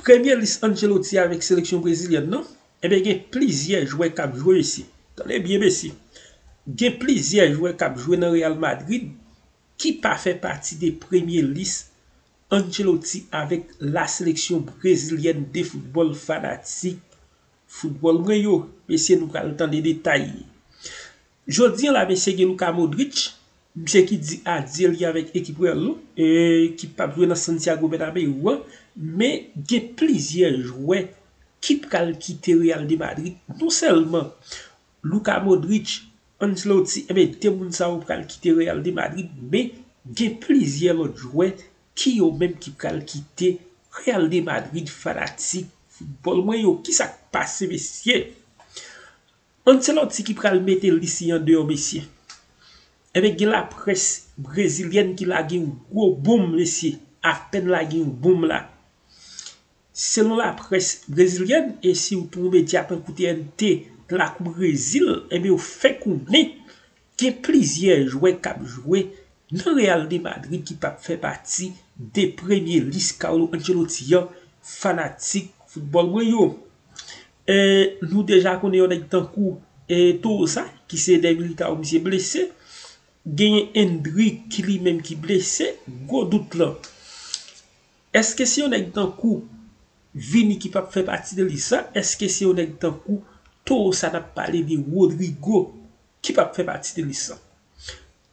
Premye lis Ancelotti avèk seleksyon brezilyèn nan, enben gen plizyè jwè kap jwe mesye. Tande byen mesye. Gen plizyè jwè kap jwe nan Real Madrid ki pa fè pati de premye lis Ancelotti avèk la seleksyon brezilyèn de foutbòl fanatik foutbòl mwen yo. Mesye nou pral tande detay. Jodi an la mesye gen Luka Modric, misye ki di adye li avèk ekip Real nou, ki pap jwe nan Santiago Bernabeu an, men gen plizyè jwè ki pral kite Real de Madrid, non sèlman Luka Modric, Ancelotti, enben 2 moun sa yo pral kite Real de Madrid, men gen plizyè lòt jwè ki yo menm ki pral kite Real de Madrid fanatik foutbòl mwen yo, kisak pase mesye? Ancelotti ki pral mete Lissi an deyò mesye. Ebyen gen laprès brezilyèn ki lage yon gwo bonm mesye, apèn lage yon bonm la. Selon laprès brezilyèn e si w tou yon medya tankou TNT lakou Brezil ebyen yo fè konnen gen plizyè jwè k ap jwe nan Real de Madrid ki pa p fè pati de premye lis Carlo Ancelotti an fanatik foutbòl mwen yo. E nou deja konnen yon nèg tankou e Toza ki se dèy Militao misye blese. Genyen Endrick ki li menm ki blese. Gwo dout lan. Eske se yon nèg tankou Vini ki pap fè pati de lis la? Eske se yon nèg tankou Toza nap pale de Rodrigo ki pap fè pati de lis la?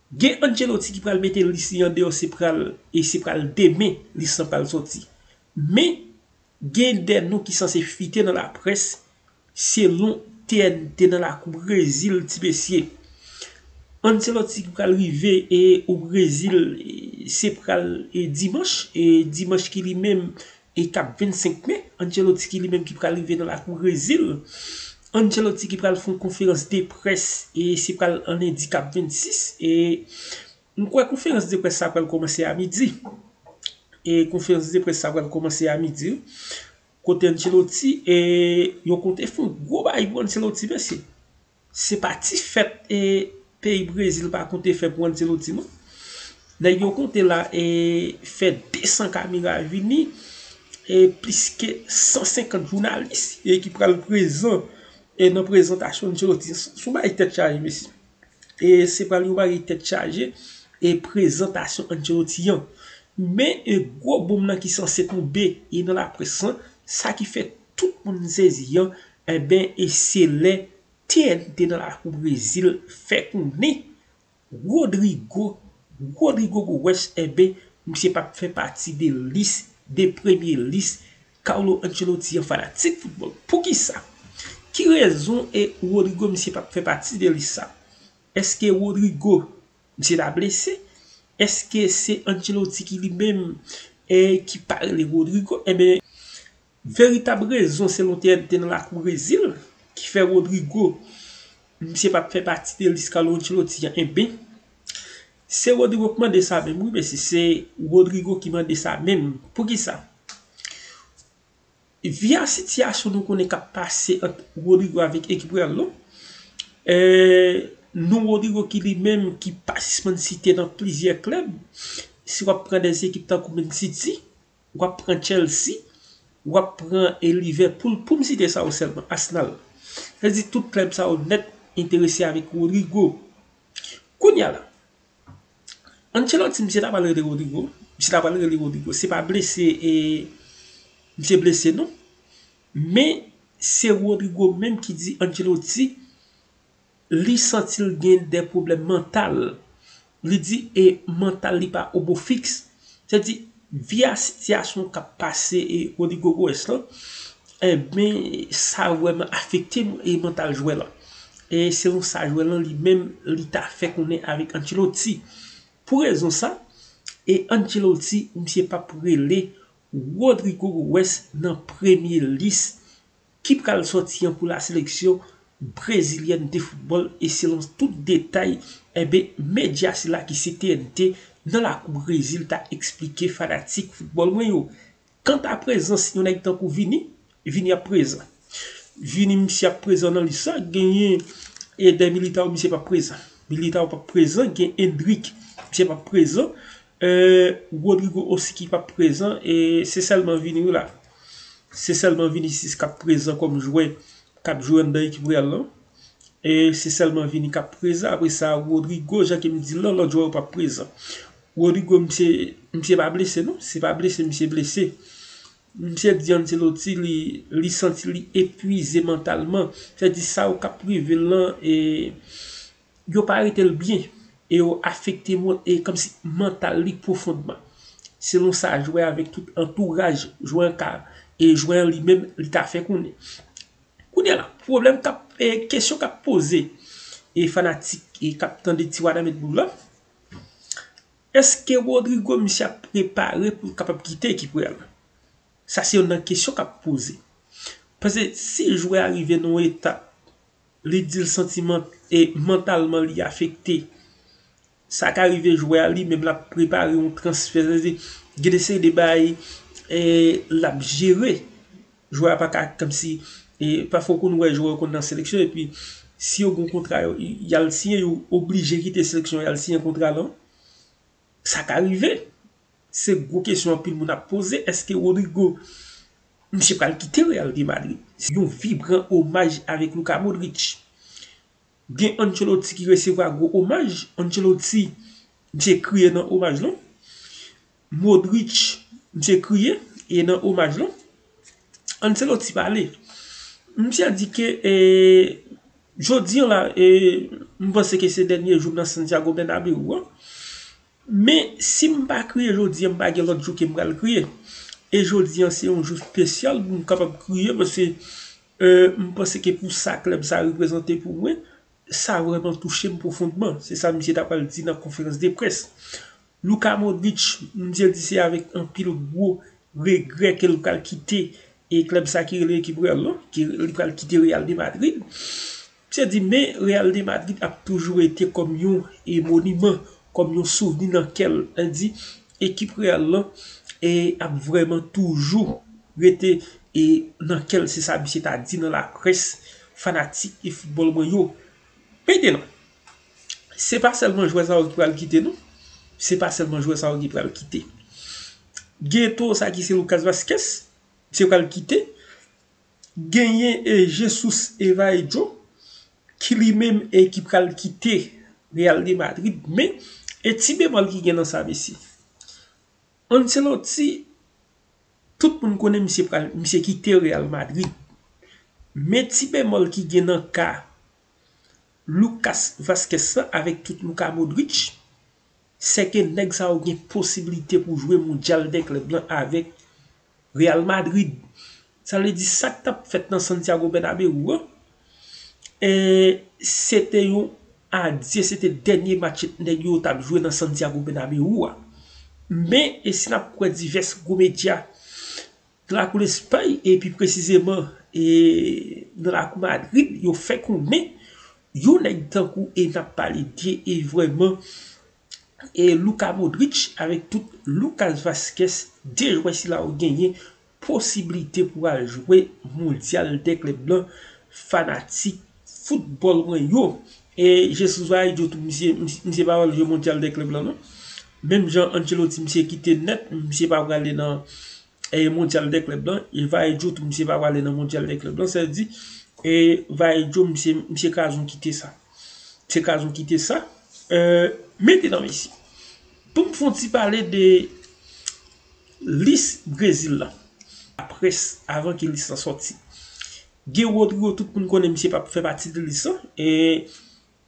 Gen Ancelotti ki pral mete lis li andeyò se pral e se pral demen lis lan pral sòti. Men Gen de non ki sanse fite nan laprès selon TNT nan lakou Brezil ti mesye. Ancelotti ki pral rive o Brezil se pral dimanch, dimanch ki li menm e kap 25 me, Ancelotti ki li menm ki pral rive nan lakou Brezil. Ancelotti ki pral fon konferans de près e se pral an lendi kap 26 e. M kwè konferans de près sa pral kòmanse a midi. E konferans de près sa pral kòmanse a midi wi. Kote Ancelotti e yo konte fon gwo bagay pou Ancelotti mesye. Se pa ti fèt e peyi Brezil pa konte fè pou Ancelotti non. Nèg yo konte la e fè 200 kamera vini e plis ke 150 jounalis e ki pral prezan e nan prezantasyon Ancelotti. Son bagay tèt chaje mesye. e se pral yon bagay tèt chaje e prezantasyon Ancelotti an. Men e gwo boom lan ki sanse tonbe e nan laprès lan, sa ki fè tout moun sezi an, enben e se lè TNT nan lakou Brezil fè konnen Rodrygo, Rodrygo Goes enben misye pap fè pati de lis, de premye lis Carlo Ancelotti an fanatik football poukisa? Ki rezon e Rodrygo misye pap fè pati de lis sa? Eske Rodrygo misye ta blese? Eske se Ancelotti ki li menm e ki pa rele Rodrygo? Enben veritab rezon selon TNT nan lakou Brezil ki fè Rodrygo misye pap fè pati de lis Carlo Ancelotti an enben se Rodrygo k mande sa menm wi mesye se Rodrygo ki mande sa menm poukisa? Via sitiyasyon nou konnen kap pase ant Rodrigo avèk ekip Real lan, non Rodrigo ki li menm ki pa sispann site nan plizyè klèb, si wap pran de ekip tankou Man City, wap pran Chelsea, wap pran Liverpool poum site sa yo sèlman, Arsenal. Sa vle di tout klèb sa yo nèt enterese avèk Rodrigo. Kounya la. Ancelotti misye ta pral rele Rodrygo misye ta pral rele Rodrygo se pa blese e misye blese non men se Rodrygo menm ki di Ancelotti li santi l gen de pwoblèm mantal li di e mantal li pa o bo fiks Se di, via sitiyasyon k ap pase Rodrygo Goes lan, enben sa vrèman afekte mantal jwè lan. E selon sa jwè lan li menm li ta fè konnen avèk Ancelotti. Pou rezon sa, e Ancelotti misye p ap rele Rodrygo Goes nan premye lis ki pral sòti an pou la seleksyon brezilyèn de foutbòl e selon tout detay enben medya sila ki se TNT nan lakou Brezil ta eksplike fanatik foutbòl mwen yo kanta prezans yon nèg tankou Vini, Vini ap prezan Vini misye ap prezan nan lis la genyen Eder Militao misye pap prezan Militao pap prezan gen Endrick misye pap prezan Rodrygo Osiki pap prezan e se sèlman Vini wi la. Se sèlman Vinicius kap prezan kòm jwè kap jwe anndan ekip Real lan e se sèlman Vini kap prezan apre sa Rodrygo jan kem dil lan lòt jwè yo pa prezan Rodrygo misye misye pa blese non se pa blese misye blese misye di Ancelotti li li santi li epwize mantalman sa vle di sa yo kap rivel lan e Yo pa rete l byen e yo afekte kòmsi mantal li pwofondman. Selon sa jwè avèk tout antouraj jwè an ka e jwè an li menm li ta fè konnen. Kounye a la, pwoblèm k ap, kesyon k ap poze e fanatik k ap tande ti Wanament Boom lan, èske Rodrygo misye ap prepare pou l kapab kite ekip Real la? Sa se youn nan kesyon k ap poze. Pase si jwè a rive nan yon etap Li dil santiman e mantalman li afekte. Sa ka rive jwè a li menm lap prepare yon transfè. Sa vle di gen de seri de bagay e lap jere. Jwè a paka kòmsi e pafwa ou konn wè jwè yo konn nan seleksyon epi si yo gon kontra yal siyen yo oblije kite seleksyon yal siyen kontra lan. Sa ka rive. Se gwo kesyon anpil moun ap poze, èske Rodrygo misye pral kite Real de Madrid? Yon vibran omaj avèk Luka Modric. Gen Ancelotti ki resevwa gwo omaj, Ancelotti misye kriye nan omaj lan. Modric misye kriye e nan omaj lan. Ancelotti pale, misye di ke jodi an la, m panse ke se dènye jou m nan Santiago Bernabeu an, men si m pa kriye jodi an m pa gen lòt jou ke m pral kriye, e jodi an se yon jou spesyal pou m kapab kriye paske m panse ke pou sa klèb sa reprezante pou mwen, sa vreman touche m pwofondman, se sa misye ta pral di nan konferans de près. Luka Modric, bndye di se avèk anpil gwo regrè ke l pral kite klèb sa ki rele ekip Real lan, ke li pral kite Real de Madrid. Msye di men Real de Madrid ap toujou rete kòm yon moniman, kòm yon souvni nan kè l. Li di ekip Real lan ap vrèman toujou rete nan kè l, se sa msye ta di nan laprès fanatik foutbòl mwen yo. Peyton. se pa sèlman jwè sa yo ki pral kite non se pa sèlman jwè sa yo ki pral kite gen to sa ki se Lucas Vazquez se pral kite genyen e Jesus Evaedjo ki li menm e ki pral kite Real de Madrid men e ti bemòl ki gen nan sa mesye Ancelotti tout moun konnen misye pral misye kite Real Madrid men ti bemòl ki gen nan ka Lucas Vazquez la avèk tout Luka Modric, sè ke nèg sa yo gen posibilite pou jwe mondyal dè klèb lan avèk Real Madrid. Sa vle di sa k t ap fèt nan Santiago Bernabeu an, se te yon adye, se te dènye match nèg yo t ap jwe nan Santiago Bernabeu a. Men, e si n ap kwè divès gwo medya Nan lakou Lespay e pi presizeman nan lakou Madrid yo fè konnen yon nèg tankou e nap pale de vrèman Luka Modric avèk tou Lucas Vazquez 2 jwè sila yo genyen posiblite pou al jwe mondyal dè klèb lan fanatik Fout bòl mwen yo. E Jesus va idyo tou misye, misye pa wè jwe mondyal dè klèb lan non. Menm jan Ancelotti misye kite nèt, misye pa prale nan mondyal dè klèb lan, e va idyo tou misye pa prale nan mondyal dè klèb lan, sa vle di e va idyo misye, misye kazon kite sa. Misye kazon kite sa. Mete nan mesye. Poum fon ti pale de lis Brezil la. Apres, avan ke lis la soti. Guy Rodrigo tout moun konnen misye pa fè pati de lis lan, e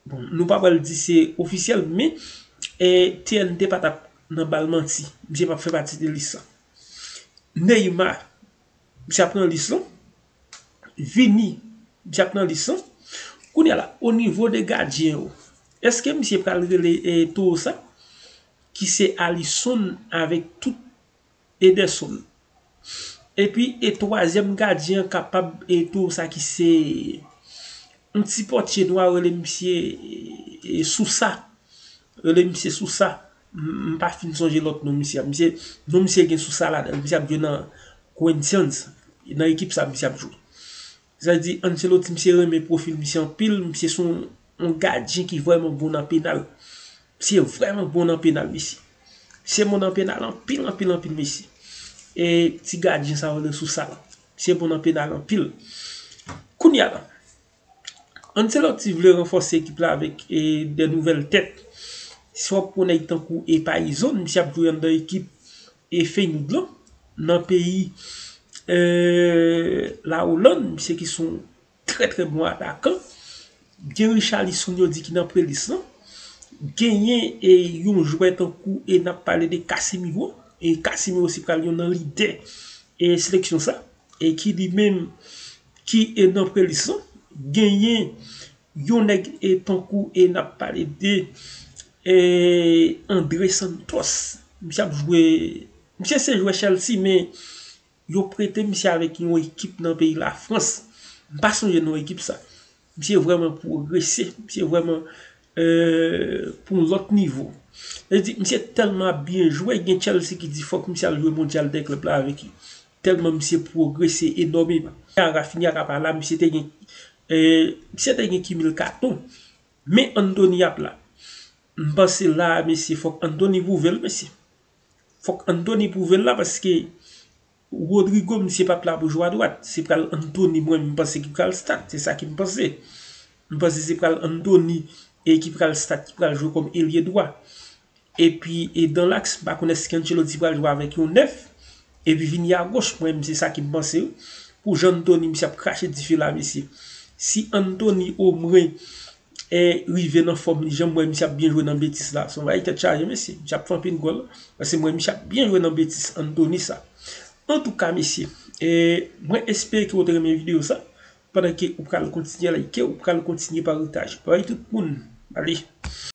bon nou pa pral di se ofisyèl men TNT pa tap nan bal manti, misye pa fè pati de lis lan. Neymar misye ap nan lis lan, Vini misye ap nan lis lan, kounye a la o nivo de gadyen yo eske misye pral rele toro sa ki se Alisson avèk tout Ederson. Epi e twazyèm gadyen an kapab e tou sa ki se yon ti pòtye nwa yo rele misye Sousa. Rele misye Sousa. M pa fin sonje lòt non misye a. Misye, non misye gen Sousa ladan l. Misye ap jwe nan Corinthians. Nan ekip sa misye ap jwe. Sa di Ancelotti misye renmen profil misye anpil misye son yon gadyen ki vreman bon nan penal misye vreman bon nan penal mesye misye bon nan penal anpil anpil anpil mesye e ti gadyen sa rele sousal misye bon nan penal anpil kounye a la Ancelotti vle ranfòse ekip la avèk e de nouvèl tèt si wap pran nèg tankou e payizon misye ap jwe anndan ekip E Feyenoord lan nan peyi La Hollande, misye ki son trè trè bon atakan, gen Richarlison yo di ki nan prelis lan, genyen e yon jwè tankou e nap pale de Casemiro, e Casemiro se pral yon nan lidè e seleksyon sa, e ki li menm ki e nan prelis lan, genyen. Yon nèg e tankou e nap pale de e Andre Santos misye ap jwe misye se jwè Chelsea men yo prete misye avèk yon ekip nan peyi la Frans m pa sonje non ekip sa misye vrèman pwogrese misye vrèman e pou yon lòt nivo e di misye tèlman ap byen jwe gen Chelsea ki di fòk misye al jwe mondyal dè klèb la avèk Telman misye progrese enomeman. Jan Rafinha ta pa la misye te gen misye te gen kimil katon. Men Anthony ap la. M panse la a mesye fok Anthony pwouve l mesye. Fok Anthony pwouve l la paske Rodrigo misye pap la pou jwe a dwat. Se pral Anthony mwen menm panse ki pral start. Se sa ki m panse. M panse se pral Anthony ki pral start ki pral jwe kòm elye dwa. Epi dan laks m pa konn èske Ancelotti pral jwe avèk yon 9 epi vini agoch mwen menm se sa ki m panse wi. Pou jan Anthony misye ap krache dife la mesye. Si Anthony omwen rive nan fòm li janm wè misye ap byen jwe nan Betis la se yon bagay tèt chaje mesye. Misye ap fè anpil gòl paske m wè misye ap byen jwe nan Betis Anthony sa. Antouka mesye mwen espere ke w te renmen videyo sa. Pandan ke ou pral kontinye like ou pral kontinye paritage bay tout moun ale.